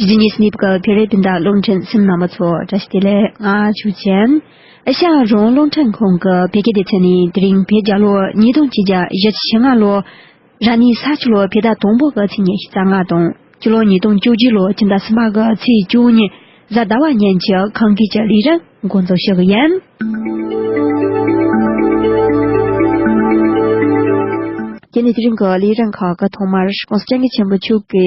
རྗེ་ཉིད་སྨིབས་ཀྱི་བེ་རི་སྤུན་ཟླ་རླུང་འཕྲིན་སེམས་ནང་པ་ཚོ་བཀྲ་ཤིས་བདེ་ལེགས་ང་ཆོས་ཅན། ཤ་རོང་རླུང་འཕྲིན་ཁང་གི་བེ་དགེ་སྡེ་ཚན་ནས་དེ་རིང་བེ་བརྒྱ་ལོ་ཉིས་སྟོང་གཅིག་རྒྱ་བཞི་ཆིག་ཕྱི་ལྔ་ལོ། ར་ནི་ས་ཆུ་ལོ་བེ་ཟླ་དང་པོ་གི་ཚེས་ཉེར་བཞི་རྩ་ལྔ་དང་སྤྱི་ལོ་ཉིས་སྟོང་བཅུ་བཞི་ལོ་སྤྱི་ཟླ་གསུམ་པ་གི་ཚེས་བཅུ་གཉིས་གཟའ་ཟླ་བ་གཉན་གྱི་གངས་སྐྱིད་ཀྱི་ལི་རི་འགོ་འཛུགས་ཞུ་གི་ཡིན། དེ་ནས་དེ་རིང་གི་ལི་རི་ཁག་གི་ཐོག་མར་གངས་སྐྱིད་ཆེན་པོ་ཕྱུག་གི།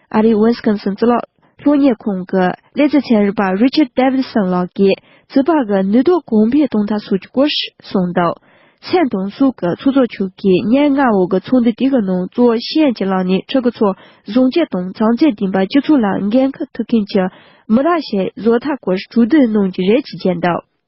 ཨ་རིའི་ཝིན་སི་ཀོན་སིན་རྩི་སློག་ལྷོད་གཉེར་ཁང་གི་ལས་བྱེད་ཚན་རིག་པ་རི་ཆར་དེ་བིད་སོན་ལགས་ཀྱིས་རྩི་བག་གི་ནུས་སྟོབས་གོང་འཕེལ་གཏོང་ཐབས་སོགས་ཀྱི་སྐོར་གསུངས་འདུག་མཚན་དང་གཟུགས་ཀྱི་ཚོགས་གཙོ་མཆོག་གིས་སྙན་ངག་འོག་གི་ཚོགས་འདུ་དེ་གི་ནང་གཙོ་བོ་ཤེས་ཡོན་གྱི་ལམ་ནས་ཕྲུ་གུ་ཚོར་བཟང་སྤྱོད་དང་བྱང་ཚད་ལྡན་པ་སྤྱི་ཚོགས་ལ་འགན་ཁུར་ཐུབ་མཁན་གྱི་མི་རབས་ཞིག་བཟོ་ཐབས་སྐོར་གྲོས་བསྡུར་གནང་རྒྱུ་རེད་ཅེས་བརྗོད་འདུག།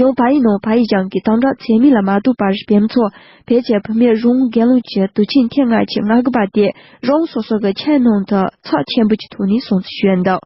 ཡང་བ་ཡི་ནང་བ་ཡི་གཞང་གི་དང་སྦྲགས་ཚད་མིན་ལ་མ་ལྟོས་པར་བེམ་ཚོགས་བེད་སྤྱད་བུད་མེད་རུང་རྒན་ལུགས་ཀྱི་དུ་ཆིངས་ཐེངས་ལྔ་ཆིག་ལྔ་གི་བ་དེ་རང་སོ་སོ་གི་ཆའི་ནང་དུ་ཚགས་ཆེན་པོ་གྱི་ཐོག་ནས་སྲུང་བརྩི་ཞུས་འདུག་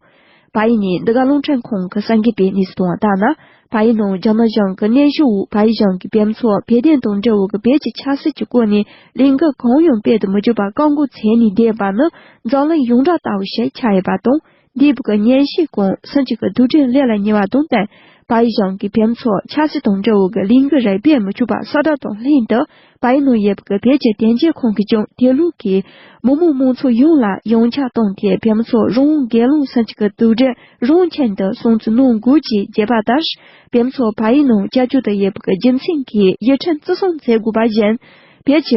བ་ཡི་ནི་འདི་ག་རླུང་འཕྲིན་ཁང་གི་སངས་རྒྱས་པའི་གནས་ཚུལ་དང་ལྟར་ན་བ་ཡི་ནང་རྒྱ་ནག་གཞང་གི་གནས་གཞི་དབུས་བ་ཡི་གཞང་གི་བེམ་ཚོགས་བེད་ལྡན་དང་འབྲེལ་བའི་གི་བེད་ཀྱི་ཆགས་སྲེད་ཀྱི་སྐོར་ནས་ལས་འགུལ་གང་ཡང་སྤེལ་དུ་མི་འཇུག་པར་བཀག་འགོག་མཚན་ནས་བསྡད་པ་ནི་རྫོང་གླིང་ཡོངས་གྲགས་ལྟ་བུ་ཞིག་ཆགས་ཡོད་པ་དང། འདི་བུ་ག་གཉན་བཤེས་གོང་ས་གཅིག་གི་དུག་སྤྲིན་ལས་ལ་ཉེ་བ་དང་བསྟན་པའི་ཞིང་གི་བེམ་ཚོགས་ཆགས་སྲེད་དང་འབྲེལ་བོ་གི་ལིང་གི་རས་བེ་མི་ཆུ་བ་སྲ་སྒྲ་དང་ལྷན་དུ་བའི་ནང་ཡེ་བུ་གི་བེ་ཅི་བདེན་བྱེད་ཁང་གི་ཅུང་དེ་ལུགས་ཀྱི་མི་མོ་མང་ཚོགས་ཡོངས་ལ་ཡང་ཆ་བཏང་དེ་བེམ་ཚོགས་རང་དགའི་རླུང་ས་གཅིག་གི་དུག་སྦྲེལ་རང་ཆེན་དུ་སོང་ཚུལ་ནང་འགོད་ཀྱི་རྒྱས་པ་ལྟར་བེམ་ཚོགས་བའི་ནང་བཅའ་བཅོ་དུ་ཡེ་བུ་གི་རྒྱུ་མཚན་གྱིས་ཡི་ཕྲན་བརྩི་སྲུང་མཛད་དགོས་པ་བཞིན་བེ་ཅི་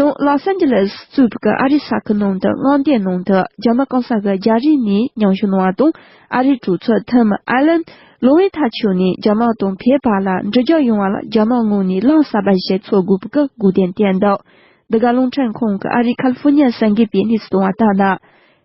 ཡང Los Angeles གཙོས་པའི་ཨ་རིའི་ས་ཁུལ་ནང་དུ་མངའ་སྡེའི་ནང་དུ་རྒྱ་མ་གང་ས་ག་རྒྱ་རིགས་ནས་མྱང་ཞུ་གནང་བ་དང་ཨ་རིའི་གྲོས་ཚོགས Tim Allen ལོ་ཝེ་ཐ་ཆོས་ནས་རྒྱ་དམག་དང་ཕའི་བར་ལ་འབྲེལ་རྒྱག་ཡོང་བ་ལ་རྒྱ་དམག་ངོས་ནས་བླངས་བསབ་པ་ཞིག་འཚོལ་དགོས་པའི་སྒུག་བསྟན་བསྟན་འདུག་འདི་ག་རླུང་འཕྲིན་ཁང་གི་ཨ་རིའི California ས་འགེལ་པས་གནས་ཚུལ་བཏང་བ་ལྟར་ན།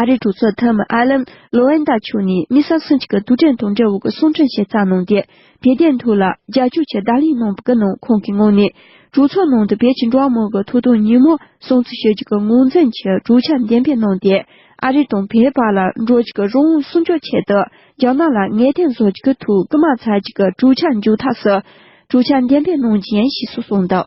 ཨ་རིའི་གྲོས་ཚོགས་མཐོ་དམན་ཨ་ལན་ལོ་ཨན་ཏཱ་ཆུ་ནི་མི་ས་སུན་ཅི་ཀ་དུས་དྲན་དང་འབྲེལ་བའི་གསུང་འཕྲིན་ཞིག་བསྩལ་གནང་སྟེ་བོད་དོན་ཐོག་ལ་རྒྱལ་སྐྱོར་ཆེད་བརྡ་ལན་གནང་པའི་ནང་ཁོང་གིས་ངོས་ནས་གྲོས་ཚོགས་ནང་དུ་བོད་ཀྱི་འགྲོ་བ་མང་པོའི་ཐོབ་ཐང་ཉིན་མོ་སྲུང་བརྩི་ཞུ་རྒྱུ་གི་ངོས་འཛིན་གྱི་གྲོས་འཆར་འགྲེམས་སྤེལ་གནང་སྟེ་ཨ་རི་དང་བོད་བར་ལ་འགྲོ་རྒྱུ་གི་རང་དབང་སྲུང་སྐྱོབ་ཆེད་དུ་རྒྱ་ནག་ལ་ངེས་གཏན་བཟོ་རྒྱུ་གི་ཐུགས་དམག་འཚལ་རྒྱུ་གི་གྲོས་འཆར་མཇུག་ཐག་སུ་གྲོས་འཆར་འགྲེམས་སྤེལ་གནང་རྗེས་ཡིན་ཞེས་སུ་གསུངས་འདུག་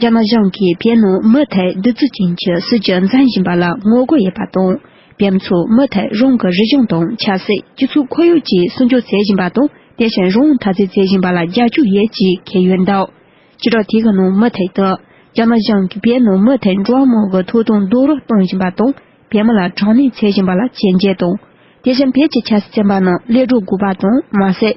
རྒྱ་ནག་གཞུང་གིས་བོད་ནང་མུ་མཐུད་རྡུལ་བརྫུ་ཅན་གྱི་སྲིད་བྱུས་འཛིན་བཞིན་པ་ལ་ངོ་རྒོལ་ཡོད་པ་དང། བོད་མི་ཚོས་མུ་མཐུད་རང་གི་རིག་གཞུང་དང་ཆབ་སྲིད་སྤྱི་ཚོགས་ཁོར་ཡུག་བཅས་སྲུང་སྐྱོབ་བྱེད་བཞིན་པ་དང་དེ་བཞིན་རང་དབང་ཐག་གཅོད་བྱེད་བཞིན་པ་ལ་རྒྱབ་སྐྱོར་ཡོད་ཅེས་འཁེལ་ཡོད་འདུག་སྤྱི་ཚོགས་ཐད་ཀྱི་ནང་མུ་མཐུད་དུ། རྒྱ་ནག་གཞུང་གིས་བོད་ནང་མུ་མཐུད་འགྲོ་བ་མང་གི་ཐོབ་ཐང་རྡོག་རོལ་གཏོང་བཞིན་པ་དང་བོད་མི་ལ་དྲག་གནོན་བྱེད་བཞིན་པ་ལ་བྱས་རྗེས་དང། དེ་བཞིན་བོད་ཀྱི་ཆབ་སྲིད་བཙན་པ་རྣམས་སླེབས་འགྲོ་དགོས་པ་དང་མ་ཟད།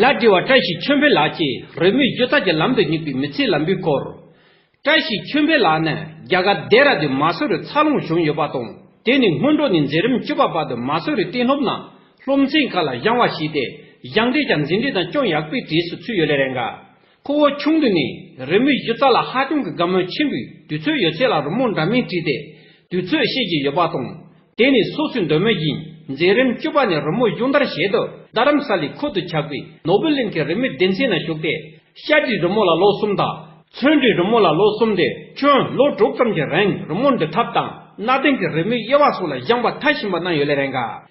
ལ་འབྲེལ་བ་བཀྲ་ཤིས་ཆོས་འཕེལ་ལགས་ཀྱིས་རོལ་མོའི་སྒྱུ་རྩལ་གྱི་ལམ་དུ་སྙེག་པའི་མི་ཚེའི་ལམ་བུའི་སྐོར། བཀྲ་ཤིས་ཆོས་འཕེལ་ལགས་ནི་རྒྱ་གར་རྡེ་ར་ལྡུན་མ་སོ་རུ་འཚར་ལོངས་བྱུང་ཡོད་པ་དང་དེ་ནི་སྔོན་འགྲོ་ནས་འཛིན་རིམ་བཅུ་པ་བར་དུ་མ་སོ་རུའི་གཏིང་སློབ་ནང་སློབ་ཚན་ཁག་ལ་བཞེངས་བ་བྱས་ཏེ་བཞེངས་འབྲས་ཀྱང་འཛིན་གྲྭའི་ནང་ཅུང་ཡག་པོའི་གྲས་སུ་ཚུད་ཡོད་ལས་རེ་འགའ་ཁོ་བོ་ཆུང་དུས་ནས་རི་མོའི་སྒྱུ་རྩལ་ལ་ཧ་ཅང་གི་དགའ་མོས་ཆེན་པོས་དུས་ཚོད་ཡོད་ཚད་ལ་རི་མོ་འདྲ་མིན་བྲིས་ཏེ་དུས་ཚོད་ཤེས་ཀྱི་ཡོད་པ་དང། དེ་ནི་སོ་སོའི་འདོད་མོས་ཡིན། མཛད་རིམ་བཅུ་པ་ནས་རི་མོ་སྦྱོང་བརྡར་བྱེད་དུ་རྡ་རམ་ས་ལའི་ཁུལ་དུ་ཆགས་པའི་ནོ་བྷེལ་གླིང་གི་རི་མོའི་སྡེ་ཚན་ན་ཞུགས་ཏེ། ཤར་གྱི་རི་མོ་ལ་ལོ་གསུམ་དང། མཚོན་གྱི་རི་མོ་ལ་ལོ་གསུམ་སྟེ་ཁྱོན་ལོ་དྲུག་ཙམ་གྱི་རིང་རི་མོ་འབྲི་ཐབས་དང་གནའ་དེང་གི་རི་མོའི་དབྱེ་བ་སོགས་ལ་སྦྱངས་པ་མཐར་ཕྱིན་པ་གནང་ཡོད་ལས་རེ་འགའ།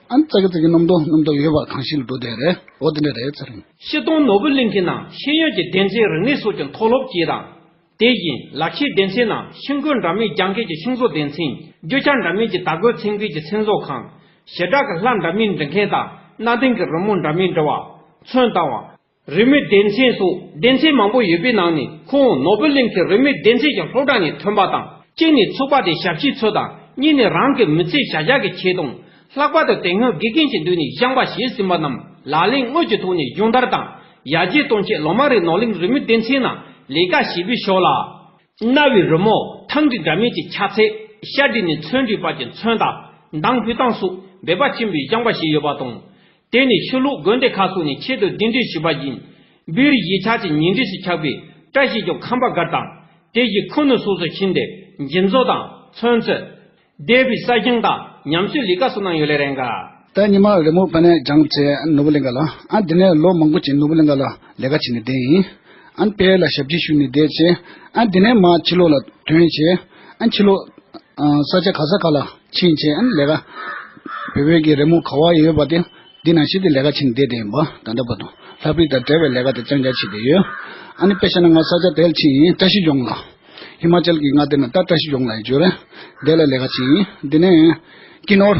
ཨན་ཙཀ་ཙིག་གི་རྣམ་རྟོག་རྣམ་རྟོག་ཡོད་པ་གང་ཞིག་ལ་འགྲོ་བདེ་རེད་འོ་དེ་འདྲ་རེད་ཟེར། ཤེལ་སྡོང་ནོར་བུ་གླིང་གི་ནང་ཤེས་ཡོན་གྱི་གདན་ཚའི་རིག་གནས་སོགས་ཀྱི་མཐོ་སློབ་ཅེས་དང། དེ་བཞིན་ལག་ཤེས་གདན་ཚའི་ནང་ཤིང་བརྐོས་འདྲ་མིན་རྒྱང་སྐད་ཀྱི་ཤིང་བཟོ་གདན་ཚིང། རྒྱུ་ཆ་འདྲ་མིན་གྱི་དར་གོས་ཚིང་སྐུད་ཀྱི་ཚིང་བཟོ་ཁང། ཞེ་དྲག་གི་ལྷ་འདྲ་མིན་འབྲི་མཁན་དང་གནའ་དེང་གི་རི་མོ་འདྲ་མིན་འབྲི་བ། ཚོན་བཏང་བ། རིས་མེད་སྡེ་ཚན་སོགས་སྡེ་ཚན་མང་པོ་ཡོད་པའི་ནང་ནས་ཁོང་ནོ་སྦེལ་གླིང་གི་རིས་མེད་སྡེ་ཚན་གྱི་སློབ་གྲྭ་ནས་ཐོན་པ་དང་གཅིག་ནས་ཚོགས་པ་དེའི་ཞབས་ཕྱི་ཚོ་དང་གཉིས་ནས་རང་གི་མི་ཚེའི་བྱ་གཞག་གི་ཆེད་དུ། ལྷག་པར་དུ་དེ་སྔོན་དགེ་རྒན་གྱི་མདུན་ནས་སྦྱངས་པ་བྱས་ཟིན་པ་རྣམས་ལག་ལེན་དངོས་ཀྱི་ཐོག་ནས་སྦྱོང་བརྡར་དང་ཡར་རྒྱས་གཏོང་ཆེད་ལོ་མང་རིང་ནོ་གླིང་རིས་མེད་སྡེ་ཚན་ནང་ལས་ཀ་བྱས་པའི་ཕྱོགས་ལ། གནའ་བོའི་རི་མོ་ཐང་གི་འདྲ་མིན་གྱི་ཆ་ཚད་ཤར་བསྒྲིགས་ནས་ཚོན་སྒྲིག་པ་གྱི་མཚོན་དང་མདངས་སྤུས་སྟངས་སོགས་འབད་པ་ཆེན་པོས་སྦྱངས་པ་བྱས་ཡོད་པ་དང། དེ་ནི་ཕྱི་ལོགས་དགོན་སྡེ་ཁག་སོགས་ནས་ཆེད་དུ་གདན་འདྲེན་ཞུས་པ་བཞིན། འབུལ་ཡིག་ཕྱག་བྱས་ཉིན་རེ་ཞིག་ཆགས་པས་བཀྲ་ཤིས་ཀྱང་ཁམས་པ་སྒར་དང། དེ་བཞིན་ཁུ་ནུ་སོགས་སུ་ཕྱིན་ཏེ་འཇིམ་བཟོ་དང་ཚོན་བཙོས། སྡེ་བའི་ས་ཞིང་དང་ཉམས་གསོའི་ལས་ཀ་སོགས་གནང་ཡོད་ལས་རེ་འགའ། ཟླ་ཉི་མ་རེ་མོ་པ་ནས་སྦྱངས་བྱས་ནོར་བུ་གླིང་ག་ལ། ཨན་དེ་ནས་ལོ་མང་པོ་བྱས་ནོར་བུ་གླིང་ག་ལ་ལས་ཀ་བྱས་ནས་བསྡད་ཡིན། ཨན་དཔལ་ལ་ཞབས་ཕྱི་ཞུས་ནས་བསྡད་བྱས། ཨན་དེ་ནས་མ་ཕྱི་ལོགས་ལ་དོན་བྱས། ཨན་ཕྱི་ལོགས། ས་ཆ་ག་ས་ག་ལ་ཕྱིན་ཆད་ཨན་ལས་ཀ། བོད་བོད་ཀྱི་རི་མོ་ག་བ་ཡོད་པ་དེ་འདི་ན་ཞིག་གི་ལས་ཀ་བྱེད་བསྡད་དེ་ཡིན་པ་ད་ལྟ་བར་དུ་ལྷ་བུད་དང་བྲལ་བའི་ལས་ཀ་དེ་ཅང་ཅང་བྱེད་བསྡད་ཡོད། ཨ་ནི་པེ་ཤ་ན་ང་ས་ཆ་དེལ་ཕྱིན་བཀྲ་ཤིས་ལྗོངས་ལ། ཧི་མ་ཅལ་གྱི་མངའ་སྡེ་ན་ཏར་བཀྲ་ཤིས་ལྗོངས་ལ་ཡིན་བརྗོད་རེད། དེ་ལ་ལས་ཀ་བྱེད་ཡིན་འདི་ནས། ཀི་ནོར།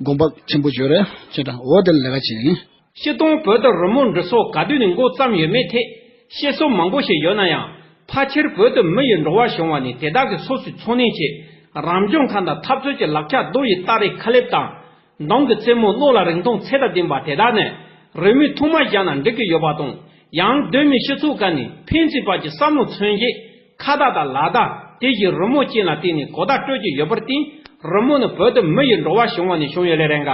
དགོངས་པ་ཆེན་པོ་བརྗོད་རེ་ཅེས་དང་འོ་དེ་ལ་ལས་ཀ་བྱེད་ཡིན། ཕྱི་གཏོང་བོད་དུ་རོལ་མོ་འབྲི་སོགས་ག་དུས་ནས་མགོ་བརྩམས་ཡོད་མེད་ཐད་བཤད་སྲོལ་མང་པོ་ཞིག་ཡོད་ན་ཡང་ཕ་ཁྱེར་བོད་དུ་མི་ཡི་འགྲོ་བ་བྱུང་བ་ནས་དེ་དག་གི་སོ་སོའི་འཚོ་གནས་ཆེད་རང་བྱུང་ཁམས་དང་འཐབ་རྩོད་ཀྱི་ལག་ཆ་རྡོ་ཡི་སྟ་རེ་ཁ་ལེབ་དང། མདང་གི་རྩེ་མོ་གློག་ལ་རིང་ཐུང་ཚད་དང་ལྡན་པ་དེ་དག་ནི་རོལ་མོའི་ཐོག་མ་བཞག་ན་འགྲིག་གི་ཡོད་པ་དང་ཡང་གདོད་མའི་སྤྱི་ཚོགས་ཀ་ནས་ཕན་ཚུན་བར་གྱི་བསམ་བློ་མཚོན་བྱེད་ཁ་བརྡ་དང་ལག་བརྡ་དེ་བཞིན་རི་མོ་བཅས་ལ་བརྟེན་ནས་གོ་བརྡ་སྤྲོད་ཀྱི་ཡོད་པར་བརྟེན་རི་མོ་ནི་བོད་དུ་མི་ཡི་འགྲོ་བ་བྱུང་བ་ནས་བྱུང་ཡོད་ལས་རེ་འགའ།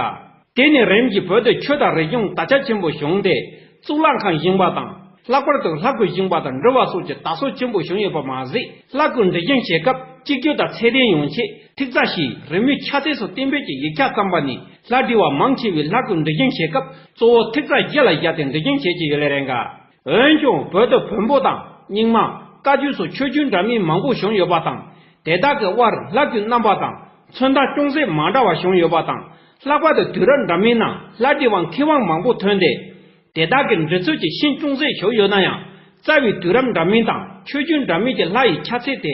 དེ་ནས་རིམ་བཞིན་བོད་དུ་ཆོས་དང་རིག་གཞུང་དར་ཆ་ཆེན་པོ་བྱུང་སྟེ་གཙུག་ལག་ཁང་བཞེངས་པ་དང་ལྷག་པར་དུ་ལྷ་སྐུ་བཞེངས་པ་དང་འབྲི་བ་སོགས་ཀྱི་དར་སྲོལ་ཆེན་པོ་བྱུང་ཡོད་པ་མ་ཟད་ལྷ་སྐུ་འབྲི་བཞེངས་བྱེད་སྐབས་གཅིག་གྱུར་དང་ཚད་ལྡན་ཡོང་ཆེད་ཐིག་རྩ་ཞེས་རི་མོའི་ཁྱད་ཚད་སོགས་བསྟན་འབེབས་ཀྱི་ཡིག་ཆ་བརྩམས་པ་ནས་ལྷ་འབྲི་བ་མང་ཆེ་བས་ལྷ་སྐུ་འབྲི་བཞེངས་བྱེད་སྐབས་གཙོ་བོ་ཐིག་རྩ་བརྒྱད་ལ་བཞག་སྟེ་འབྲི་བཞེངས་བྱེད་ཀྱི་ཡོད་ལས་རེ་འགའ། འོན་ཀྱང་བོད་དུ་བོན་པོ་དང་རྙིང་མ། བཀའ་བརྒྱུད་སོགས་ཆོས་བརྒྱུད་འདྲ་མིན་མང་པོ་བྱུང་ཡོད་པ་དང། དེ་དག་གི་དབར་ལྷ་བརྒྱུད་རྣམ་པ་དང་མཚོན་རྟགས་ཅུང་ཟད་མ་འདྲ་བ་བྱུང་ཡོད་པ་དང། ལྷག་པར་དུ་དུས་རབས་འདྲ་མིན་ནང་ལྷ་བྲིས་བ་མཁས་དབང་མང་པོ་ཐོན་ཏེ། དེ་དག་གི་འབྲི་ཚུལ་གྱི་ཤན་ཅུང་ཟད་ཞུགས་ཡོད་ན་ཡང། རྩ་བའི་དུས་རབས་འདྲ་མིན་དང་ཆོས་བརྒྱུད་འདྲ་མིན་གྱི་ལྷ་ཡི་ཆ་ཚད་དེ་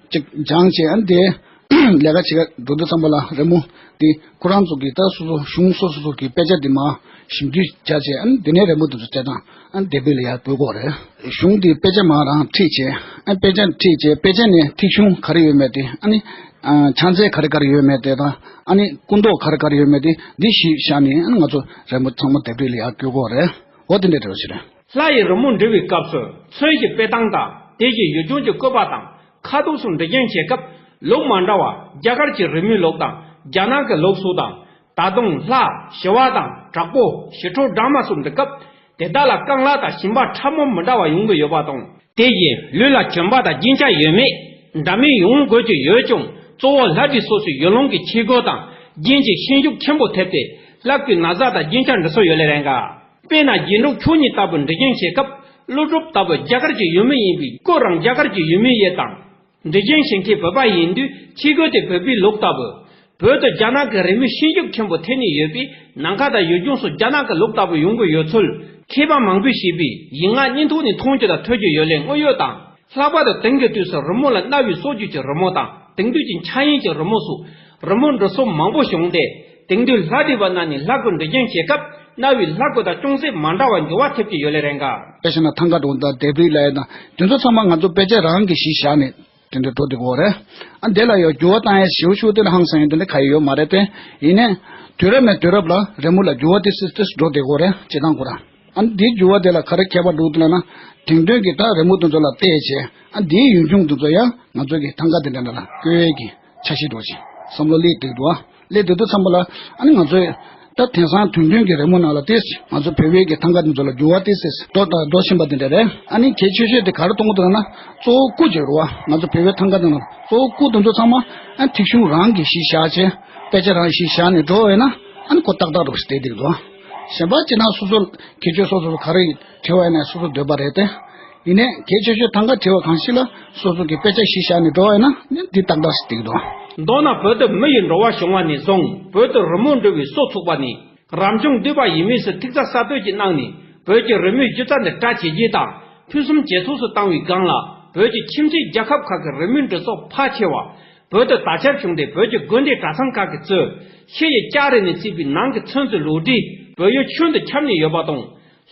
ཅིག་སྦྱང་བྱས་ཨ་དེ། ལས་ཀ་བྱེད་ཀ་འགྲོ་འདུག་ཙམ་པ་ལ་རེ་མོ། དེ་ཁོ་རང་ཚོ་གི་ད་སོ་སོ་གཞུང་སོ་སོ་སོ་གི་དཔེ་ཆ་དེ་མ་ཞིབ་འདུས་བྱ་བྱས་ཨ་དེ་ནས་རེ་མོ་དེ་ཚོ་བྱས་དང་ཨ་དེ་དཔེ་ལ་ཡར་བོད་གོ་རེ། གཞུང་དེ་དཔེ་ཆ་མ་རང་ཁྲིད་བྱས་ཨ་དཔེ་ཆ་ཁྲིད་བྱས་དཔེ་ཆ་ནས་ཐིག་གཞུང་ག་རེ་ཡོད་མེད་དེ་ཨ་ནི། ཕྱག་འཚལ་ག་རེ་ག་རེ་ཡོད་མེད་དེ་དང་ཨ་ནི་སྐུ་མདོག་ག་རེ་ག་རེ་ཡོད་མེད་དེ་འདི་ཞིབ་བཞག་ནས་ཨ་ནི་ང་ཚོ་རེ་མོ་ཚང་མ་དེ་དཔེ་ལ་ཡར་བསྐྱོད་གོ་རེ། འོ་དེ་འདྲ་དྲི་བ་ཞིག་རེད། ལྷ་ཡི་རི་མོ་འབྲི་བའི་སྐབས་སུ་མཚོན་གྱི་དཔེ་སྟངས་དང་དེ་བཞིན་ཡུལ་ལྗོངས་ཀྱི་བཀོད་པ་དང་ཁ་ཐུགས་སུ་འབྲི་རྐྱང་བྱེད་སྐབས་ལུགས་མ་འདྲ་བ་རྒྱ་གར་གྱི་རི་མོའི་ལུགས་དང་རྒྱ་ནག་གི་ལུགས་སུ་དང། ད་དུང་ལྷ་ཞི་བ་དང་དྲག་པོ་ཞི་ཁྲོ་སྦྲང་མ་སོགས་འབྲི་སྐབས་དེ་དག་ལ་རྐང་ལག་དང་ཞིང་པ་ཕྲ་མོ་མི་འདྲ་བ་ཡོང་གི་ཡོད་པ་དང། དེ་བཞིན་ལུས་ལ་གྱོན་པ་དང་རྒྱན་ཆ་ཡོད་མེད་འདྲ་མིན་ཡོང་དགོས་ཀྱི་ཡོད་ཀྱང་གཙོ་བོ་ལྷ་བྲིས་སོ་སོའི་ཡུལ་ལུང་གི་ཁྱི་རྒོད་དང་རྒྱན་གྱི་ཤན་ཤུགས་ཆེན་པོ་ཐེབས་ཏེ་ལྷ་སྐུའི་ན་བཟའ་དང་རྒྱན་ཆ་འབྲི་སྲོལ་ཡོད་ལེ་རེ་འགའ། དཔེར་ན་རྒྱན་དྲུག་ཁྱུང་གཉིས་ལྟ་བུ་འབྲི་རྒྱན་བྱེད་སྐབས་ཀླུ་སྒྲུབ་ལྟ་བུ་རྒྱ་གར་གྱི་ཡུལ་མི་ཡིན་པའི་སྐོས་རང་རྒྱ་གར་གྱི་ཡུལ་མི་ཡིན་དང། འབྲི་རྒྱན་བྱེད་མཁན་བོད་པ་ཡིན་དུས་ཁྱི་རྒོད་དེ་བོད་པའི་ལུགས་ལྟ་བུ། བོད་དུ་རྒྱ་ནག་གི་རི་མོའི་ཤིང་རྒྱུག་ཆེན་པོ་ཐེབས་ནས་ཡོད་པས་ནམ་མཁའ་དང་ཡུལ་ལྗོངས་སུ་རྒྱ་ནག་གི་ལུགས་ལྟ་བུ་ཡོང་གི་ཡོད་ཚུལ་མཁས་པ་མང་པོས་བཤད་པས་ཡིག་ངག་གཉིས་ཐོག་ནས་མཐོང་རྒྱུ་དང་ཐོས་རྒྱུ་ཡོད་ལས་དངོས་ཡོད་དང། ལྷག་པར་དུ་དེང་གི་དུས་སུ་རི་མོ་ལ་གནའ་བོའི་སྲོལ་རྒྱུན་གྱི་རི་མོ་དང་དེང་དུས་ཀྱི་འཆར་ཡན་གྱི་རི་མོ་སོགས་རི་མོ་འབྲི་སྲོལ་མང་པོ་བྱུང་སྟེ་དེང་དུས་ལྷ་བྲིས་པ་རྣམས་ནི་ལྷ་སྐུ་འབྲི་རྐྱང་བྱེད་སྐབས་གནའ་བོའི་ལྷ་སྐུ་དང་ཅུང་ཟད་མ་འདྲ་བར་འགྱུར་བ་ཐེབས་ཀྱི་ཡོད་ལེ་རེ་འགའ། དེ་བཞིན་ཐང་ག་གྲོང་རྡལ་དེབ་རིག་གླ་ཡས་དང་དེ་ཚོ་ཚང་མ་ང་ཚོ་དཔེ་ཆ་རང་གི་ཞིག་བཞག་ནས་དེ་འདྲ་འགྲོ་འདི་གོ་རེད་ཨ་དེ་ལ་ཡང་འགྱུར་བ་བཏང་ཡས་ཞེའུ་ཞུ་དེ་ལ་ཧང་སང་ཡོད་དེ་འདྲ་ག་ཡི་ཡོད་མ་རེད་པས་ཡིན་ནས་དུས་རབས་ནས་དུས་རབས་ལ་རི་མོ་ལ་འགྱུར་བ་ཏིས་ཏིས་ཏིས་འགྲོ་འདི་གོ་རེད་བྱེད་སྟངས་གོ་ར། ཨ་འདིའི་འགྱུར་བ་དེ་ལ་ག་རེ་ཁྱད་པར་འདུག་ལབ་ན། དེང་དོན་གྱི་སྒྲ་རི་མོ་དེ་ཚོ་ལ་བལྟས་ཚེ། ཨ་འདིའི་ཡུན་ཆུང་དེ་ཚོ་ཡང་ང་ཚོ་གི་ཐང་ག་དེ་འདྲ་འདྲ་ལ་བཀོལ་གྱི་ཆ་ཤས་འགྲོ་ཞིང་བསམ་བློ་སླེ་དུས་འགྲོ། སླེ་དུས་དུ་འཚམ་པ་ལ། ཨ་ནི་ང་ཚོས། ད་དེང་སང་དོན་དོན་གྱི་རི་མོ་ནང་ལ་བལྟས་ཚེ་ང་ཚོ་བོད་བོད་ཀྱི་ཐང་ག་དེ་ཚོ་ལ་འགྱུར་བ་བལྟས་ཚེ་འགྲོ་དང་འགྲོ་བཞིན་པ་དེ་འདྲ་རེད། ཨ་ནི་གལ་ཆེ་ཤོས་དེ་ག་རེ་གཏོང་གི་འདུག་ལབ་ན། གཙོ་བོ་སྐུ་གཅིག་རོ། ང་ཚོ་བོད་བོད་ཐང་ག་དེ་ནང་གཙོ་བོ་སྐུ་དེ་ཚོ་ཚང་མ། ཨ་ཐིག་གཞུང་རང་གིས་ཤིག་བཞག་ཅེས། དཔེ་ཆ་རང་གིས་ཤིག་བཞག་ནས་འགྲོ་འོས་ན། ཨ་ནི་གོ་ཏག་ཏག་འགྲོ་ཞིག་བལྟས་དེ་འགྲོ། གཞན་པ་སྤྱིར་ན་སོ་སོ་ཁྱད་ཆོས་སོ་སོ་སོ་ག་རེ་བྲི་བ་ཡིན་ན་སོ་སོར་འདོད་པ་རེད་དེ། ཡིན་ནས་གལ་ཆེ་ཤོས་ཐང་ག་བྲི་བ་གང་ཞིག་ལ་སོ་སོ་གི་དཔེ་ཆ་ཞིག་བཞག་ནས་འགྲོ་བ་ཡིན་ན་འདི་ཏག་ཏག་ཞིག་འགྲིག་འདུག། མདོར་ན་བོད་དུ་མི་ཡི་འགྲོ་བ་བྱུང་བ་ནས་བཟུང་བོད་དུ་རི་མོ་འབྲི་བའི་སྲོག་ཚུགས་པ་ནི་རབ་བྱུང་འདུས་པ་ཡིན་མོས་སུ་ཐིག་རྩ་གསར་གཏོད་ཀྱི་གནང་ནས་བོད་ཀྱི་རི་མོའི་སྒྱུ་རྩལ་འདི་གྲ་ཇེ་རྒྱས་དང་ཕུན་སུམ་ཇེ་ཚོགས་སུ་བཏང་བའི་སྒང་ལ་བོད་ཀྱི་ཁྱིམ་མཚེས་རྒྱལ་ཁབ་ཁག་གི་རི་མོའི་འབྲི་ཚོགས་ཕལ་ཆེ་བ་བོད་དུ་ད་ཆར་བྱུང་སྟེ་བོད་ཀྱི་དགོན་སྡེ་གྲྭ་ཚང་ཁག་གི་གཙོས་ཤེལ་ཡིག་ལྕགས་རི་ནས་བརྩིགས་པའི་ནང་གི་ཚོན་རྩི་ལུགས་འདྲིས་བོད་ཡུལ་ཁྱོན་དུ་ཁྱབ་ནས་ཡོད་པ་དང།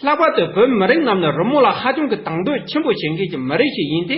ལྷག་པར་དུ་བོད་མི་རིགས་རྣམས་ནི་རི་མོ་ལ་ཧ་ཅང་གི་དང་དོད་ཆེན་པོ་བྱེད་མཁན་གྱི་མི་རིགས་ཤིག་ཡིན་ཏེ།